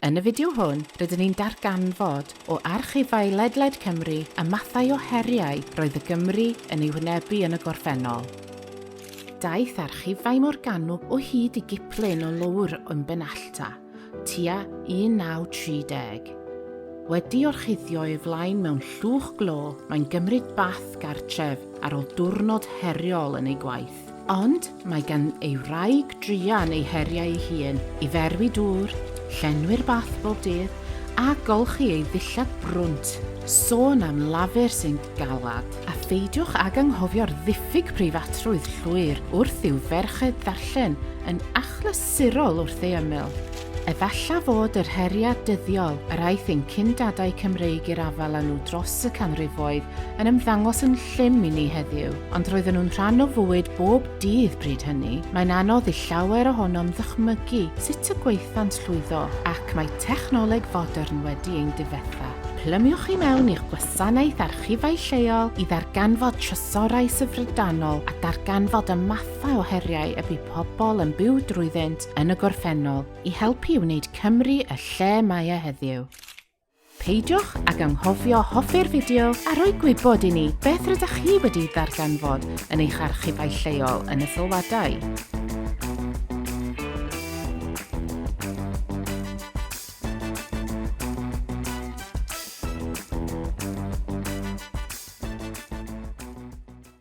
Yn y fideo hwn, rydyn ni'n darganfod, o archifau ledled Cymru, y mathau o heriau roedd y Gymry yn eu hwynebu yn y gorffennol. Daeth archifau Morgannwg o hyd i giplun o lowr ym Benallta, tua 1930. Wedi orchuddio ei flaen mewn llwch glo, mae'n gymryd bath gartref ar ôl diwrnod heriol yn ei gwaith. Ond mae gan ei wraig druan ei heriau ei hun, i ferwi dŵr, llenwi'r bath bob dydd, a golchi ei ddillad brwnt, sôn am lafur sy'n galed. A pheidiwch ag anghofio'r ddiffyg preifatrwydd llwyr wrth i'w ferched ddarllen yn achlysurol wrth ei ymyl. Efalla fod yr heriau dyddiol yr aeth ein cyn-dadau Cymreig i'r afael â nhw dros y canrifoedd yn ymddangos yn llym i ni heddiw, ond roedden nhw'n rhan o fywyd bob dydd bryd hynny. Mae'n anodd i llawer ohonom ddychmygu sut y gwaethant llwyddo, ac mae technoleg fodern wedi ein difetha. Plymiwch i mewn i'ch gwasanaeth archifau lleol i ddarganfod trysorau syfrdanol a darganfod y mathau o heriau y bu pobl yn byw drwyddynt yn y gorffennol i helpu i wneud Cymru y lle mae e heddiw. Peidiwch ag anghofio hoffi'r fideo a rhoi gwybod i ni beth rydych chi wedi ddarganfod yn eich archifau lleol yn y sylwadau.